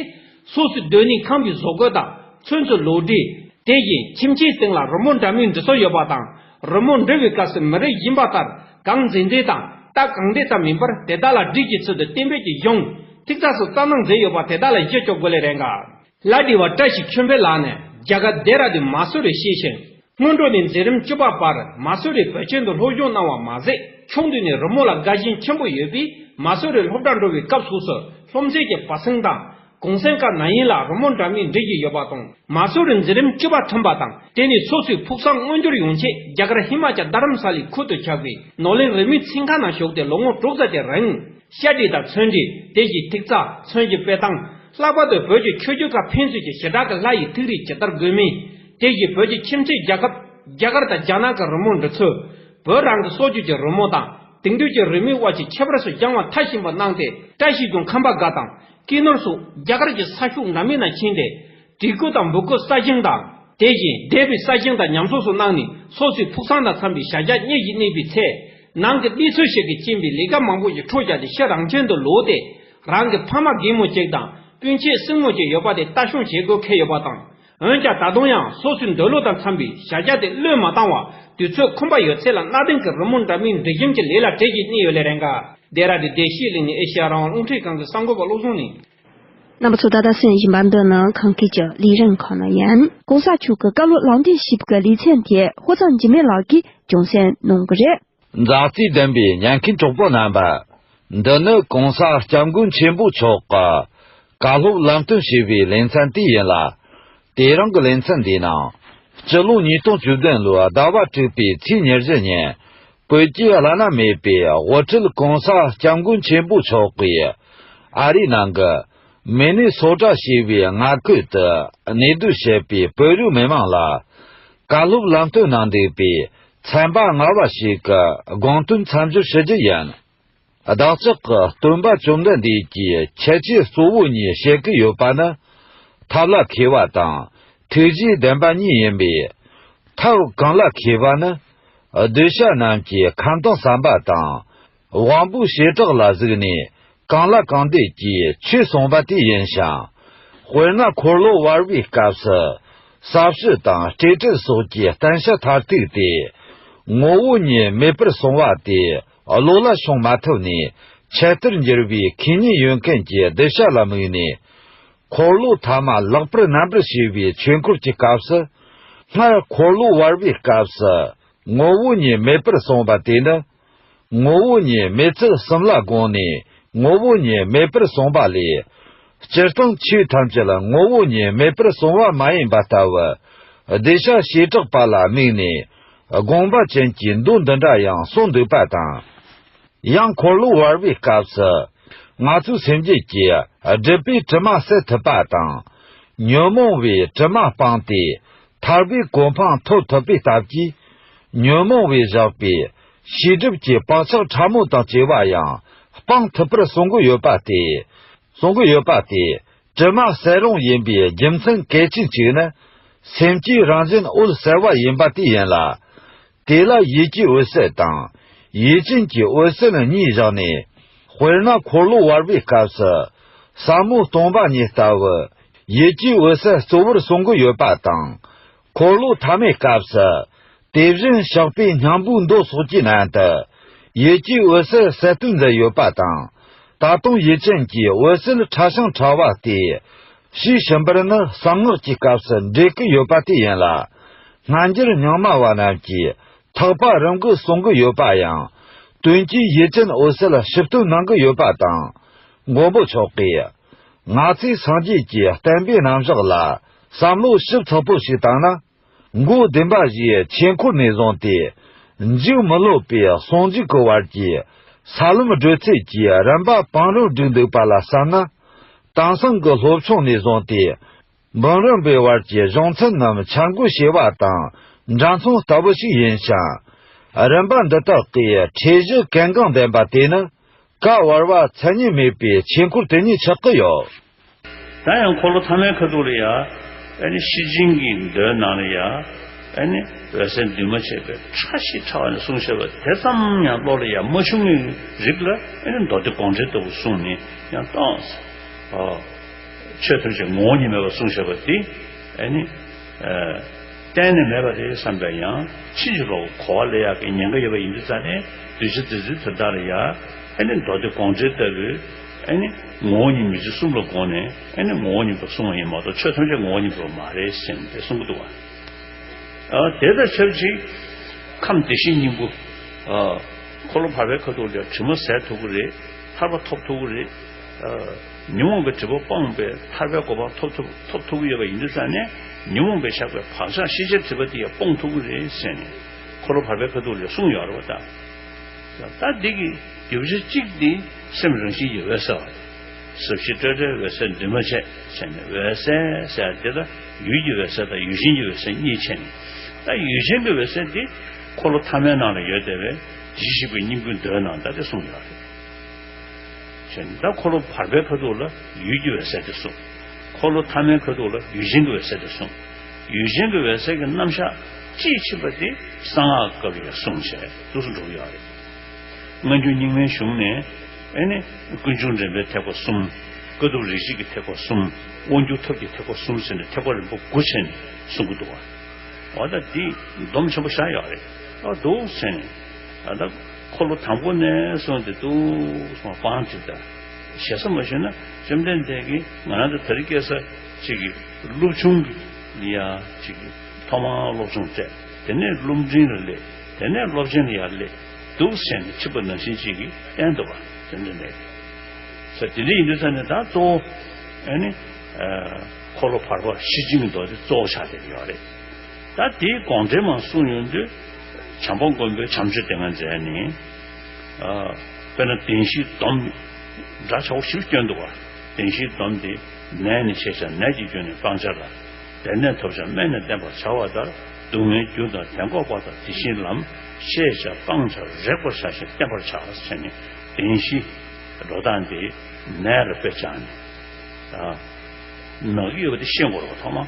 སོ་སོའི་སྡོད་གནས་ཁང་པའི་བཟོ་བཀོད་དང་ཚོན་རྩི་ལུགས་འདྲིས། དེ་བཞིན་ཁྱིམ་ཆའི་སྟེང་ལ་རི་མོ་འདྲ་མིན་འབྲི་སྲོལ་ཡོད་པ་དང། རི་མོ་འབྲི་བའི་སྐབས་སུ་མི་རིགས་གཞན་པ་ལྟར་གང་མཛེས་མཛེས་དང་རྟགས་གང་བྲིས་ཙམ་མིན་པར་དེ་དག་ལ་འབྲིས་ཀྱི་ཚུལ་དུ་གཏན་འབེབས་ཀྱི་གཞུང་ཐིག་རྩ་སོགས་རྩ་གནང་མཛད་ཡོད་པ་དེ་དག་ལ་གཞི་བཅོལ་དགོས་ལས་རེ་འགའ་ལ་དྲི་བ་བཀྲ་ཤིས་ཆོས་འཕེལ་ལགས་ནས་རྒྱ་གར་རྡེ་ར་ལྡུན་མ་སུ་རི་ཤེས་ཤིང་སྔོན་འགྲོ་ནས་འཛིན་རིམ་བཅུ་པ་བར་མ་སུ་རི་བོད་ཆེན་དུ་སློབ་སྦྱོང་གནང་བ་མ་ཟད་ཕྱོགས་འདུས་ནས་རི་མོ་ལ་དགའ་ཞེན་ཆེན་པོ་ཡོད་པས་མ་སུ་རི་སློབ་གྲྭ་འགྲོ་བའི་སྐབས་སོགས་སུ་སློབ་ཚན་གྱི་བར་གསེང་དང། གུང་གསེང་སྐབས་ན་ཡིན་ལ་རི་མོ་འདྲ་མིན་འབྲི་བཞིན་ཡོད་པ་དང་མ་སུ་རི་འཛིན་རིམ་བཅུ་པ་ཐོན་པ་དང་དེ་ནས་སོ་སོའི་ཕུགས་བསམ་མངོན་འགྱུར་ཡོང་ཆེད་རྒྱ་གར་ཧི་མ་ཅཱ་རྡ་རམ་ས་ལའི་ཁུལ་དུ་ཆགས་པའི་ནོར་གླིང་རི་མོའི་ཚན་ཁག་ནང་ཞུགས་ཏེ་ལོ་ངོ་དྲུག་ཙམ་གྱི་རིང། ཤ་དྲིལ་དང་ཚོན་དྲིལ་དེ་བཞིན་ཐིག་རྩ་ཚོན་གྱི་དཔེ་དང། ལྷག་པར་དུ་བོད་ཀྱི་ཆོས་བརྒྱུད་ཁག་ཕན་ཚུན་གྱི་ཞེ་དྲག་གི་ལྷ་ཡི་ཐིག་རིས་ཇི་ལྟར་དགོས་མིན། དེ་བཞིན་བོད་ཀྱི་ཁྱིམ་མཚེས་རྒྱལ་ཁབ་རྒྱ་གར་དང་རྒྱ་ནག་གི་རི་མོ་འབྲི་ཚུལ། བོད་རང་གི་སྲོག་རྒྱུད་ཀྱི་རི་མོ་དང་དེང་དུས་ཀྱི་རི་མོའི་དབར་གྱི་ཁྱད་པར་སུ་རྒྱང་བ་མཐའ་ཞིང་པར་སྣང་སྟེ། བཀྲ་ཤིས་ཀྱང་ཁམས་པ་འགའ་དང་ཀི་ནོར་སོགས་རྒྱ་གར་གྱི་ས་ཤུགས་འདྲ་མིན་ན་ཕྱིན་ཏེ། བྲིས་སྐུ་དང་འབུར་སྐུ་ས་ཞིང་དང། དེ་བཞིན་སྡེ་པའི་ས་ཞིང་དང་ཉམས་གསོ་སོགས་སྣང་ནས་སོ་སོའི་ཕུགས་བསམ་དང་འཚམ་པའི་བྱ་གཞག་གཉེར་བཞིན་གནས་པའི་ཚེ། ནང་གི་གནས་ཚུལ་ཞིག་གིས་རྐྱེན་པས་ལས་ཀ་མང་པོ་ཞིག་འཕྲོ་བཅག་སྟེ་ཕྱིར་རང་ཁྱིམ་དུ་ལོག་སྟེ། རང་གི་ཕ་མ་རྒན་མོ་གཅིག་དང་སྤུན་མཆེད་སྲིང་མོ་གཅིག་ཡོད་པ་དེ་ལྟ་སྲུང་བྱེད་དགོས་ཁེལ་ཡོད་པ་དང། འོན་ཀྱང་ད་དུང་ཡང་སོ་སོའི་འདོད་བློ་དང་འཚམས་པའི་བྱ་བཞག་དེ་བློས་མ་བཏང་བར་དུས་ཚོད་ཁོམ་པ་ཡོད་ཚད་ལ་གནའ་དེང་གི་རི་མོ་འདྲ་མིན་འབྲི་བཞེངས་ཀྱི་ལས་ལ་བྲེལ་གྱིས་གནས་ཡོད་ལས་རེ་འགའ་རྡེ་ར་རི་བདེ་གཤེགས་གླིང་ནས་ཨེ་ཤི་ཡ་རང་དབང་རླུང་འཕྲིན་ཁང་གི་གསར་འགོད་པ་བློ་བཟང་ནི། རྣམ་པ་ཚོ་ད་ལྟ་སོན་བཞིན་པ་འདི་ནི་ཁང་ཁུལ་གྱི་ལས་རིམ་ཁག་ནང་ཡིན། གོང་ས་མཆོག་གི་བཀའ་སློབ་ལག་འདེབས་ཞིབ་ཀྱི་ལེ་ཚན་དེ་ཧོ་ཚང་འཇིགས་མེད་ལགས་ཀྱིས་ཀྱང་གསན་གནང་གི་རེད། མཛའ་བརྩེ་ལྡན་པའི་ཉན་མཁན་གྲོགས་པོ་རྣམ་པ། འདི་ནི་གོང་ས་སྐྱབས་མགོན་ཆེན་པོ་མཆོག་གི་བཀའ་སློབ་ལམ་སྟོན་ཞུས་པའི་ལེ་ཚན་དེ་ཡིན་ལ། དེ་རིང་གི་ལེ་ཚན་འདི་ནང་སྤྱི་ལོ་ཉིས་སྟོང་བཅུ་བདུན་ལོའི་ཟླ་བ་དྲུག་པའི་ཚེས་ཉེར་བཞི་ཉིན་བོད་ཀྱི་བླ་ན་མེད་པའི་དབུ་ཁྲིད་གོང་ས་སྐྱབས་མགོན་ཆེན་པོ་མཆོག་གིས་ཨ་རིའི་ནང་གི་མི་ནི་སོ་དྲག་ཞེས་པའི་མངའ་ཁུལ་དུ་གནས་སྡོད་བྱེད་པའི་བོད་རིགས་མི་མང་ལ་བཀའ་སློབ་ལམ་སྟོན་གནང་འདུག་པའི་ཚན་པ་ལྔ་བ་ཞིག་གི་དགོངས་དོན་མཚམས་སྦྱོར་ཞུ་རྒྱུ་ཡིན། བདག་ཅག་གི་སྟོན་པ་བཅོམ་ལྡན་འདས་ཀྱིས་ཁྱད་ཆོས་གཙོ་བོ་གཉིས་བཤད་ཀྱི་ཡོད་པ་ནི། ཐབས་ལ་མཁས་པ་དང་ཐུགས་རྗེའི་ལྡན་པ་གཉིས་ཡིན་པས། ཐབས་གང་ལ་མཁས་པ་ནི། གདུལ་བྱ་རྣམས་ཀྱི་ཁམས་དང་བསམ་པ་དང། དབང་པོའི་བྱེ་བྲག་ལ་གཟིགས་ནས་གང་ལ་གང་འདས་ཀྱི་ཆོས་གསུངས་པ་དེ་ཡིན་ཞིང། དཔེར་ན་འཁོར་ལོ་བར་བའི་སྐབས་སུ་ས་བཅུ་དང་སྤྲོས་བྲལ་སོགས་ཀྱི་བསྟན་བྱ་མཐར་ཐུག་སྟེ། ངོ་བོ་ཉིད་མེད་པར་སོང་བ་དེ་བློ་ལ་ཤོང་མ་ཐུབ་ནས་ཁྱད་དུར་འགྱུར་བའི་ཁས་ཉེན་ཡོད་མཁན་གྱི་གདུལ་བྱ་ལ་དམིགས་ནས། འཁོར་ལོ་ཐ་མ་ལེགས་པར་རྣམ་པར་ཤེས་པའི་ཆོས་འཁོར་གྱི་སྐབས་སུ། སྔར་འཁོར་ལོ་བར་བའི་སྐབས་སུ་ངོ་བོ་ཉིད་མེད་པར་སོང་བ་དེ་ནི། ངོ་བོ་ཉིད་མེད་ཚུལ་གསུམ་ལ་དགོངས་ནས་ངོ་བོ་ཉིད་མེད་པར་གསུངས་པ་ལས། སྤྱིར་བཏང་ཆོས་ཐམས་ཅད་ལ་ངོ་བོ་ཉིད་མེད་པར་གསུང་བ་མ་ཡིན་པ་ལྟ་བུ། བདེ་གཤེགས་བྱེ་བྲག་པ་ལ་དམིགས་ནས་དགོངས་པ་ཅན་གྱི་མདོ་འདི་འདྲ་ཡང་གསུངས་འདུག་པ་དང། ཡང་འཁོར་ལོ་བར་བའི་སྐབས་སུ། ང་ཚོས་སེམས་བསྐྱེད་ཀྱིས་སྒྲིབ་པའི་དྲི་མ་བསལ་ཐུབ་པ་དང། ཉོན་མོངས་བའི་དྲི་མ་སྤངས་ཏེ། ཐར་པའི་གོ་འཕང་ཐོབ་ཐུབ་པའི་སྟབས་ཀྱིས། ཉོན་མོངས་བས་བཞག་པའི་ཤེས་སྒྲིབ་ཀྱི་བག་ཆགས་ཕྲ་མོ་དང་བཅས་པ་ཡང་སྤང་ཐུབ་པར་གསུང་གི་ཡོད་པ་སྟེ། གསུང་གི་ཡོད་པ་དེ་དྲི་མ་གསལ་ལོང་ཡིན་པའི་རྒྱུ་མཚན་གལ་ཆེན་གཅིག་ནི། སེམས་ཀྱི་རང་བཞིན་འོད་གསལ་བ་ཡིན་པ་དེ་ཡིན་ལ། དེ་ལ་ཡིད་ཀྱི་འོད་གསལ་དང། ཡིད་ཅན་གྱི་འོད་གསལ་གཉིས་བཞག་ནས། དཔེར་ན་འཁོར་ལོ་བར་པའི་སྐབས་སུ། ཟབ་མོ་སྟོང་པ་ཉིད་ལྟ་བུ། ཡིད་ཀྱི་འོད་གསལ་གཙོ་བོར་གསུང་གི་ཡོད་པ་དང། འཁོར་ལོ་ཐ་མའི་སྐབས་སུ། དེ་བཞིན་གཤེགས་པའི་སྙིང་པོའི་མདོ་སོགས་ཀྱི་ནང་དུ། ཡིད་ཀྱི་འོད་གསལ་གསལ་སྟོན་མཛད་ཡོད་པ་དང། ད་དུང་ཡིད་ཅན་གྱི་འོད་གསལ་ཕྲ་ཞིང་ཕྲ་བ་སྟེ། ཞེས་ཞུམ་པར་ནི་གསང་སྔགས་ཀྱི་སྐབས་སུ་འགྲེལ་གྱི་ཡོད་པ་དེ་ཡིན་ལ། སྔ་འགྱུར་རྙིང་མ་བ་རྣམས་ཀྱིས་ཐག་པ་རིང་གི་གསུང་གི་ཡོད་པ་ཡང། དོན་གྱི་ཡིད་ཅན་འོད་གསལ་ཞིབ་ཏུ་སྣང་གི་ཡོད་པ་དང། མགོན་པོ་མཆོག་གིས། ང་ཚོས་སངས་རྒྱས་ཀྱི་བསྟན་པའི་རྣམ་གཞག་ལ་བསམ་བློ་ཞིབ་ཚགས་པོ་ཞིག་བཏང་ན། མགོ་བདེན་པ་བཞིའི་ཆོས་འཁོར་ནས་བཟུང་སྟེ། འཇུག་མི་སློབ་པའི་ཟུང་འཇུག་གི་བར་གྱི་ས་ལམ་བགྲོད་ཚད་ཀྱི་རིམ་པ་བང་རིམ་བསྒྲིགས་འདུག་པ་ལ་བསམ་ན། དེང་སང་གི་སློབ་ཆུང་ནས་བཟུང་སྟེ། འབུམ་རམས་པའི་བར་གྱི་གཞུང་ཚན་རྣམས་འཆར་འགོད་བྱེད་པ་དང་འདྲ་མཚུངས་ལྟ་བུ་ཞིག་ཡིན་ཞིང། རིམ་པ་འདི་དག་གི་ཁྲིད་གཞི་གལ་འགངས་ལྡན་པ་དེ་ནི། བཀའ་བར་བ་མཚན་ཉིད་མེད་པའི་ཆོས་འཁོར་དེ་ཉིད་ཆགས་ཀྱི་ཡོད། ད་ཡང་འཁོར་ལོ་མཐའ་མའི་ཁ་ཐུག་ལ་ཡ། ཨེ་ནི་ཤི་འཇིང་གི་མདོའི་ནང་ལ་ཡ། ཨེ་ནི་འོད་གསལ་འདུས་མ་བྱས་པའི་ཕྲ་ཞིང་ཕྲ་བ་ནས་གསུངས་ཤེས་པ་དེ་ཙམ་ཡང་བློ་ལ་ཡ་མ་བྱུང་བའི་རིགས་ལ་ཨེ་ནི་མདོ་སྡེ་དགོངས་འགྲེལ་ལྟ་བུ་གསུངས་ནས་ཡང་སྟོང། ཆོས་ཐམས་ཅད་ངོ་བོ་ཉིད་མེད་པར་གསུངས་ཤེས་པ་དེ་ཨེ་ནི། གཏན་ནས་མེད་པ་རེད་བསམ་པའི་ཡང་ཕྱིན་ཅི་ལོག་གི་གོ་བ་ལས་ཡག་གི་ཉེན་ཁ་ཡོད་པ་ཡིན་དུས་རྩ་ནས་གདུལ་བྱ་འདི་ཚོའི་དོན་དག་ལ་ཡ་ཨེ་ནི་མདོ་སྡེ་དགོངས་འགྲེལ་ལྟ་བུའི་ཨེ་ནི་ངོ་བོ་ཉིད་མི་འཇིགས་གསུམ་ལ་དགོངས་ནས་ཨེ་ནི་ངོ་བོ་ཉིད་པར་གསུངས་བ་ཡིན་མ་གཏོགས་ཆོས་ཐམས་ཅད་ངོ་བོ་ཉིད་པར་མ་རེད་སེམས་ཏེ་གསུང་གི་འདུག་ཨ། དེ་དང་ཆབས་ཅིག་ཁམས་བདེ་གཤེགས་སྙིང་པོ། འཁོར་ལོ་བར་པའི་ཁ་ཐུག་ལས་དྲི་མ་ཟད་ཐུག་གི་རེད། ཐར་པ་ཐོབ་ཐུག་གི་རེད། ཉོན་མོངས་པའི་དྲི་བ་སྤངས་པས་ཐར་པའི་གོ་འཕང་ཐོབ་ཐུབ་ཐུབ་ཀྱི་ཡོད་པ་ཡིན་དུས་ས་ནས་ཉོན་མོངས་པས་བཞག་པའི་བག་ཆགས་ཤེས་བྱའི་དྲི་བ་དེ་ཡང་སྤོང་ཐུབ་ཀྱི་རེད་ཟེར་ནས་འཁོར་ལོ་བར་པའི་ཁ་ཐུག་ལས་གསུངས་ཡོང་རོགས་གདའ། ད་འདི་གི་རྒྱུ་བྱེད་གཅིག་དེ་སེམས་རང་བཞིན་གྱི་འོད་གསལ་བ་དེ། ཟབ་ཞི་སྤྲོས་བྲལ་འོད་གསལ་འདུས་མ་བྱས་བྱས་ནས་འོད་གསལ་ཟེར་ཡ་དེ་ད་ཡུལ་གྱི་འོད་གསལ་དང་ཡུལ་གཞན་གྱི་འོད་གསལ་གཉིས་ཕྱེ་ནས་ད་ཡུལ་གཞན་གྱི་འོད་གསལ་དེ་འཁོར་ལོ་ཐ་མའི་ནང་ལ་ཡོད་དེ་བས་གཞི་ཞིག་པའི་སྙིང་པོའི་མདོའི་ནང་ད་དེ་གསུངས་ཡོང་རེད། ཚོན་མདའ་འཁོར་ལོ་བར་པའི་ཁ་དོག་ལ་ཡུལ་གྱི་འོད་ཟེར་དེ་གསུངས། འཁོར་ལོ་ཐ་མའི་ཁ་དོག་ལ་ཡུལ་ཅན་གྱི་འོད་ཟེར་དེ་གསུངས། ཡུལ་ཅན་གྱི་འོད་ཟེར་གྱི་རྣམ་གཞག་ཅིའི་མཆིས་པ་དེ་གསང་སྔགས་སྐབས་རེ་རེ་གསུངས་བྱས་བསྡུ་སུ་འགྲོ་གི་ཡོད་རེད། སྔ་འགྱུར་རྙིང་མའི་གཞུང་ནས་ཨེ་ནི། ཀུན་འབྱུང་འདྲེན་པའི་ཐེག་པ་གསུམ། དཀའ་ཐུབ་རིག་བྱེད་ཀྱི་ཐེག་པ་གསུམ། དབང་སྒྱུར་ཐབས་ཀྱི་ཐེག་པ་གསུམ་ཟེར་ནས་ཐེག་པ་རིམ་པ་དགུ་ཕྱེ་ནས་གསུང་གི་འདུག་བ། འོ་ད་དེ་སྡོམ་ཆེན་པོ་བཞག་ཡོད་རེད་འདུག་ཟེར་ནས། འཁོར་ལོ་དང་པོ་ནས་སོང་སྟེ་ཏུའུ་སོང་སྤང་དེ་དང་ཞེ་ས་མ་ཞུ་ན་བཅོམ་ལྡན་འདས་ཀྱིས་ང་རང་དང་དེར་སྐྱེས་ས་གཅིག་གི་ཀླུ་ཆུང་གི་ཡ་གཅིག་གི་ཐོག་མར་སློབ་ཆུང་བསྩལ་དེ་ནས་སློབ་འབྲིང་ལ་སླེབས་དེ་ནས་སློབ་ཆེན་ལ་ཡར་སླེབས་འདུག་བསད་ནས་འཆི་བ་ནང་བཞིན་གཅིག་གི་སྟན་དུ་བབས་བཅོམ་ལྡན་འདས་ཀྱིས་ས་དེ་འདི་ཡིན་དུ་བསམས་ནས་ད་གཙོ་བོ་ཨ་ནི་འཁོར་ལོ་བར་པ་བཞི་བཅིངས་འདོགས་ཏེ་གཙོ་བོ་ཕྱག་འདེབས་ཡོད་རེད། ད་དེའི་དགོངས་འགྲེལ་མང་གསུངས་ཡོང་དུས། བྱམས་པ་མགོན་པོའི་བྱམས་ཆོས་དེ་སྔར་མཛད་ནས། དཔེར་ན་བདེན་བཞིའི་སྡོམ། འདྲ་ཆགས་བཞིར་སྐྱོན་འདུག་བ། བདེན་བཞིའི་སྡོམ་དེ། ནད་ནི་ཤེས་བྱ་ནད་ཀྱི་སྐྱོན་ནི་སྤང་བྱ་ལ། བདེན་གནས་ཐོབ་བྱ་སྨན་ནི་བསྟེན་པར་བྱ་བ་ལྟར་སྡུག་བསྔལ་རྒྱུ་དང་དེ་འགོག་པ་དང་དེ་བཞིན་ལམ། ཤེས་བྱ་སྤང་བྱ་རེག་པར་བྱ་ཞིང་བསྟེན་པར་བྱ་བ་བྱས་ནས་བདེན་བཞི། འགྲོ་སྟངས་དེ། ནད་ལ་དཔེ་བྱ་ནས། ནག་གི་ཡོད་པ་དེ་ཤེས་འགོག་རོགས་ཐོག་མ།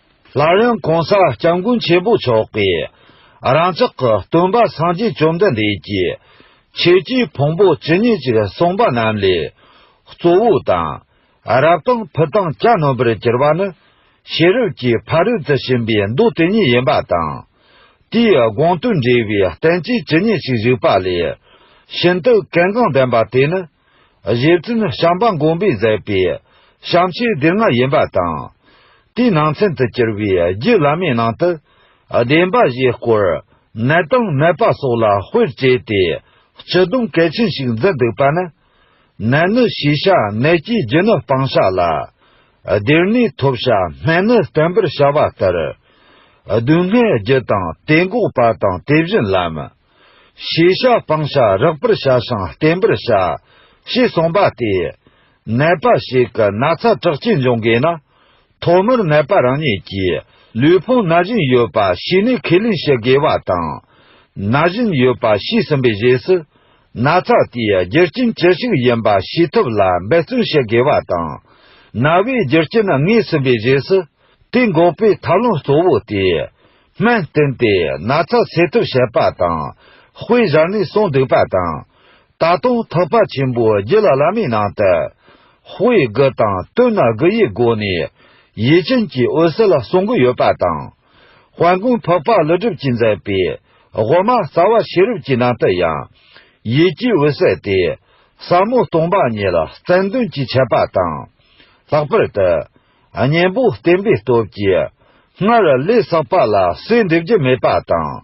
སླར་ཡང་གོང་ས་སྐྱབས་མགོན་ཆེན་པོ་མཆོག་གིས། རང་ཅག་གི་སྟོན་པ་སངས་རྒྱས་བཅོམ་ལྡན་འདས་ཀྱིས། ཆོས་ཀྱི་ཕུང་པོ་ཇི་སྙེད་ཅིག་གསུངས་པ་རྣམས་ལས། གཙོ་བོ་དང། རབ་དང་ཕུ་དང་གྱ་ནོམ་པར་གྱུར་པ་ནི། ཤེས་རབ་ཀྱི་ཕ་རོལ་ཏུ་ཕྱིན་པའི་མདོ་དེ་ཉིད་ཡིན་པ་དང། དེའི་དགོངས་དོན་འགྲེལ་བའི་བསྟན་བཅོས་ཇི་སྙེད་ཅིག་བཞུགས་པ་ལས། ཤིན་ཏུ་གལ་འགངས་ལྡན་པ་དེ་ནི། གཞས་བཙུན་བྱམས་པ་མགོན་པོས་མཛད་པའི་བྱམས་ཆོས་སྡེ་ལྔ་ཡིན་པ་དང། དེའི་ནང་ཚན་དུ་གྱུར་པའི་རྒྱུད་བླ་མའི་ནང་དུ། བདེན་པ་བཞིའི་སྐོར་ནད་དང་ནད་པ་སོགས་ལ་དཔེར་བྱས་ཏེ་སྤྱི་སྡོམ་གལ་ཆེན་ཞིག་འཛིན་འདུག་པ་ནི། ནད་ནི་ཤེས་བྱ་ནད་སྐྱེས་རྒྱུ་ནི་སྤང་བྱ་ལ། སྡེར་ནི་ཐོབ་བྱ་སྨན་ནི་བསྟེན་པར་བྱ་བ་ལྟར། སྡུག་བསྔལ་རྒྱུ་དང་དེ་འགོག་པ་དང་དེ་བཞིན་ལམ། ཤེས་བྱ་སྤང་བྱ་རགས་པར་བྱ་ཞིང་བརྟན་པར་བྱ། ཞེས་གསུངས་པ་སྟེ། ནད་པ་ཞིག་གི་ན་ཚ་དྲག་སྐྱེད་འབྱུང་དགོས་ན། ཐོག་མར་ནད་པ་རང་ཉིད་ཀྱིས་ལུས་ཕུང་ན་བཞིན་ཡོད་པ་ཤེས་ནས་ཁས་ལེན་བྱེད་དགོས་པ་དང། ན་བཞིན་ཡོད་པ་ཤེས་ཟིན་པའི་རྗེས་སུ། ན་ཚ་དེའི་རྒྱུ་རྐྱེན་ཅི་ཞིག་ཡིན་པ་ཤེས་ཐུབ་ལ་འབད་བརྩོན་བྱེད་དགོས་པ་དང། ན་བའི་རྒྱུ་རྐྱེན་ངེས་ཟིན་པའི་རྗེས་སུ། དེ་འགོག་པའི་ཐབས་ལམ་གཙོ་བོ་སྟེ། སྨན་བསྟེན་ཏེ་ན་ཚ་སེལ་ཐབས་བྱེད་པ་དང། དཔེ་གཞན་ནས་གསུངས་འདུག་པ་དང། ད་དུང་ཐུབ་པ་ཆེན་པོའི་རྒྱུད་ལ་བླ་མའི་ནང་དུ། དཔེ་དགུ་དང་བསྟུན་ན་དགུ་ཡི་སྒོ་ནས། ཡིད་ཅན་གྱི་འོད་ཟེར་ལ་གསུང་དགུ་ཡོད་པ་དང། དཔལ་མགོན་འཕགས་པ་ཀླུ་སྒྲུབ་ཀྱིས་མཛད་པའི་དབུ་མ་རྩ་བ་ཤེས་རབ་ཀྱི་ནང་དུ་ཡང། ཡིད་ཀྱི་འོད་གསལ་ཏེ། ཟབ་མོ་སྟོང་པ་ཉིད་ལ་རྩལ་འདོན་གྱི་འཆད་པ་དང། ལྷག་པར་དུ། གཉེན་པོ་བསྟེན་པའི་སྟོབས་ཀྱིས། སྔར་ལས་བསགས་པ་ལ་གསོས་འདེབས་རྒྱུ་མེད་པ་དང།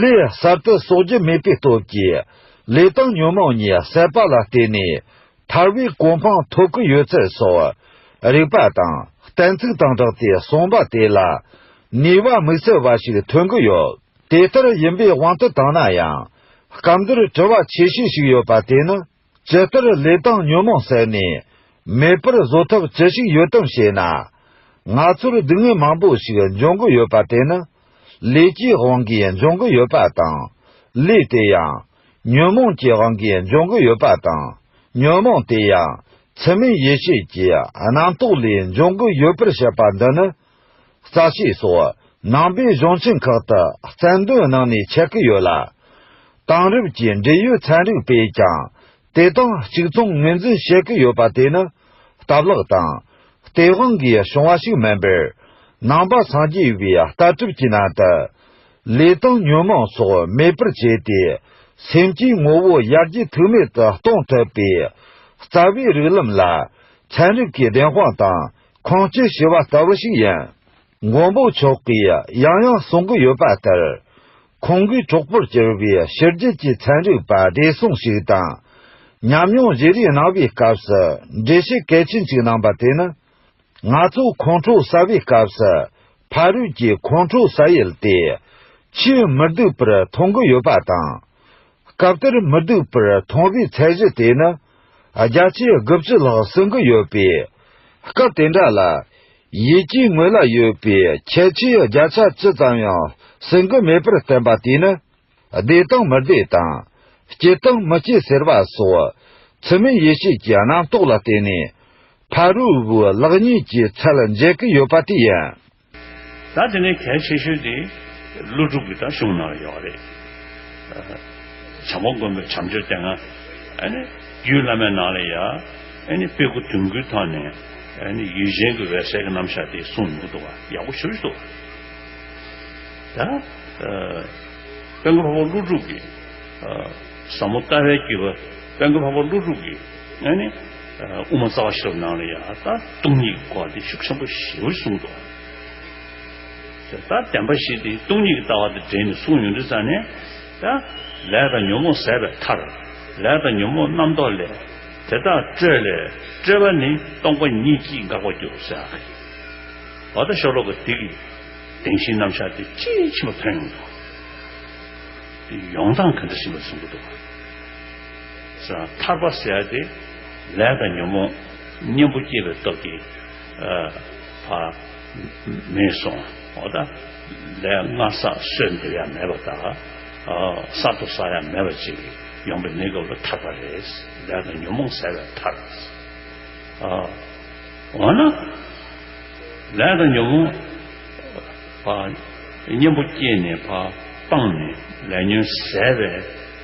ལས་གསར་དུ་གསོག་རྒྱུ་མེད་པའི་སྟོབས་ཀྱིས། ལས་དང་ཉོན་མོངས་ཉེས་བསལ་བ་ལ་བརྟེན་ནས། ཐར་བའི་གོ་འཕང་ཐོབ་ཀྱི་ཡོད་ཚུལ་སོགས། རིགས་པ་དང་གཏན་ཚིགས་དང་སྦྲགས་ཏེ་གསུངས་པ་དེ་ལ། ནུས་པ་དམིགས་བསལ་བ་ཞིག་ཐོན་གྱི་ཡོད། དེ་ལྟར་ཡིན་པའི་དབང་དུ་བཏང་ན་ཡང། སྐབས་འདིར་དྲི་བ་ཆེ་ཤོས་ཤིག་ཡོད་པ་དེ་ནི། ཇི་ལྟར་ལས་དང་ཉོན་མོངས་བསལ་ནས་མེད་པར་བཟོ་ཐབས་ཅི་ཞིག་ཡོད་དམ་ཞེ་ན། ང་ཚོར་སྡུག་བསྔལ་མང་པོ་ཞིག་འབྱུང་གི་ཡོད་པ་དེ་ནི་ལས་ཀྱི་དབང་གིས་འབྱུང་གི་ཡོད་པ་དང། ལས་དེ་ཡང་ཉོན་མོངས་ཀྱི་དབང་གིས་འབྱུང་གི་ཡོད་པ་དང། ཉོན་མོངས་དེ་ཡང་ཚད་མེད་ཡེ་ཤེས་ཀྱི་རྣམ་རྟོག་ལས་འབྱུང་གི་ཡོད་པར་བཤད་པ་འདི་ནི་རྩ་ཆེ་སོགས་ནང་པའི་གཞུང་ཆེན་ཁག་ཏུ་རྩལ་འདོན་གནང་ནས་ཆགས་ཀྱི་ཡོད་ལ། དེང་རབས་ཀྱི་འབྲེལ་ཡོད་ཚན་རིག་པས་ཀྱང་དེ་དང་གཅིག་མཚུངས་ངོས་འཛིན་བྱེད་ཀྱི་ཡོད་པ་དེ་ནི་སྟབས་ལེགས་དང། སྟེས་དབང་གིས་བྱུང་བ་ཞིག་མིན་པར། ནང་པ་སངས་རྒྱས་པའི་ལྟ་གྲུབ་ཀྱི་ནང་དུ། ལས་དང་ཉོན་མོངས་སོགས་མེད་པར་བྱས་ཏེ་སེམས་ཀྱི་ངོ་བོ་ཡར་རྒྱས་ཐུག་མེད་དུ་གཏོང་ཐུབ་པའི་རྩ་བའི་རིགས་ལམ་ལ་ཚན་རིག་གི་བདེན་དཔང་དང། ཁོང་ཚོས་ཞུ་བ་ལྟ་བུ་ཞིག་ཡིན། མགོན་པོ་མཆོག་གིས་ཡང་ཡང་གསུང་གི་ཡོད་པ་ལྟར། ཁོང་གིས་གྲོགས་པོར་གྱུར་པའི་ཕྱི་རྒྱལ་གྱི་ཚན་རིག་པ་བགྲེས་སོང་ཞིག་དང་ཉམས་མྱོང་བཞི་རིས་གནང་བའི་སྐབས་སུ་འགྲེལ་བཤད་གལ་ཆེན་གཅིག་གནང་པ་དེ་ནི། ང་ཚོ་ཁོང་ཁྲོ་ཟ་བའི་སྐབས་སུ་ཕ་རོལ་གྱི་ཁོང་ཁྲོ་ཟ་ཡུལ་དེ་ཆེས་མི་སྡུག་པར་མཐོང་གི་ཡོད་པ་དང། སྐབས་དེར་མི་སྡུག་པར་མཐོང་བའི་ཚད་གཞི་དེ་ནི། རྒྱ་ཆེའི་དགུ་བཅུ་ལྷག་བསྲིང་གི་ཡོད་པས། སྐབས་དེ་འདྲ་ལ། ཡིད་ཀྱི་ངོས་ལ་ཡོད་པའི་ཁྱད་ཆོས་བརྒྱ་ཆ་ཅི་ཙམ་ཡང་བསྲིང་གི་མེད་པར་བསྟན་པ་དེས་ནི། བདེ་དང་མི་བདེ་དང། སྐྱིད་དང་མི་སྐྱིད་ཟེར་བ་སོགས། ཚུལ་མིན་ཡེ་ཤེས་ཀྱི་རྣམ་རྟོག་ལ་བརྟེན་ནས། ཕ་རོལ་བོའི་ལག་གཉིས་ཀྱི་ཚད་ལ་འཇལ་གྱི་ཡོད་པ་དེ་ཡིན། ད་དེ་ནས་གལ་ཆེ་ཤོས་དེ་ཀླུ་སྒྲུབ་ཀྱི་ད་གཞུང་ནང་ཡོད་རེད། བྱང་ཁོག་མགོན་པོའི་བྱམས་ཆོས་སྟེང། རྒྱུད་བླ་མའི་ནང་ལས་ཡང། དཔེ་དགུ་དོན་དགུའི་ཐོག་ནས། ཡུལ་གཞན་གྱི་འོད་གསལ་གྱི་རྣམ་གཞག་དེ་གསུངས་མྱོང་འདུག་བ་ཡག་པོ་ཞུ་རེ་འདུག། ད། དཔལ་མགོན་ལྷ་བ་ཀླུ་སྒྲུབ་ཀྱི། ཟབ་མོ་ལྟ་བའི་རྒྱུད་པ་དཔལ་མགོན་ལྷ་བ་ཀླུ་སྒྲུབ་ཀྱི། ནས་ནི་དབུ་མ་རྩ་བ་ཤེས་རབ་སྣང་ལ་ཡང་ལྟ་སྟོང་ཉིད་ཀྱི་སྐོར་འདི་ཤུགས་ཆེན་པོ་ཞེས་པར་གསུངས་སོ། ད་བདེན་པ་ཞིག་སྟེ་སྟོང་ཉིད་ཀྱི་ལྟ་བ་དང་འབྲེལ་ནས་གསུངས་ཡོང་དུས་ཙམ་ནས། ལས་དང་ཉོན་མོངས་ཟད་པའི་མཐར། ལས་དང་ཉོན་མོངས་རྣམ་རྟོག་ལས། དེ་དག་སྤྲོས་ལས་སྤྲོས་པ་ནི་སྟོང་པ་ཉིད་ཀྱིས་འགག་པར་འགྱུར་ཟེར་བ་ཡིན། བར་དོ་ཤོ་ལོ་ཀ་འདི་གི་བདེན་བཞིའི་རྣམ་གཞག་འདི་དཔྱིས་ཕྱིན་པ་ཐོན་ཡོང་དུས། ཡོང་སྟངས་ག་འདྲ་ཞིག་མེད་པར་གསུངས་ཀྱི་འདུག། ཐར་པ་ཟད་དེ་ལས་དང་ཉོན་མོངས་གཉེན་པོ་སྐྱེས་པའི་སྟོབས་ཀྱིས་མེད་སོང་བ་དང། ལས་སྔར་ས་སྲོད་འདིར་ཡང་མེད་པ་དང། གསར་དུ་ས་ཡང་མེད་པ་ཅིག་ཡོང་པའི་གནས་སྐབས་ལ་ཐར་པ་རེད། ལས་དང་ཉོན་མོངས་ཟད་པའི་ཐར། འོ་ན་ལས་དང་ཉོན་མོངས་གཉེན་པོ་སྐྱེས་ནས་སྤངས་ནས་ལས་ཉོན་ཟད་པའི།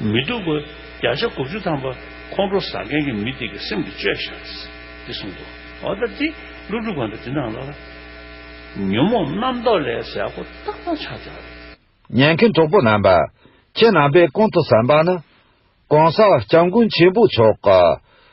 མི་སྡུག་གོ། བརྒྱ་ཆ་དགུ་བཅུ་ཐམ་པ་ཁོང་ཁྲོ་ཟ་མཁན་གྱི་མི་དེ་གི་སེམས་ཀྱི་བཅོས་བཞག་རེད། འདི་གསུངས་འདུག་འོ་ད་འདི་ཀླུ་སྒྲུབ་གང་འདྲ་འདི་འདང་ལ། ཉོན་མོངས་རྣམ་རྟོག་ལས་ཟས་ཀོ་རྟག་རྟག་ཆགས་བྱ་རེད། ཉན་མཁན་གྲོགས་པོ་རྣམ་པ། ཁྱེད་རྣམ་པས་གོང་དུ་བསམ་པ་ནི། གོང་ས་སྐྱབས་མགོན་ཆེན་པོ་མཆོག་གི།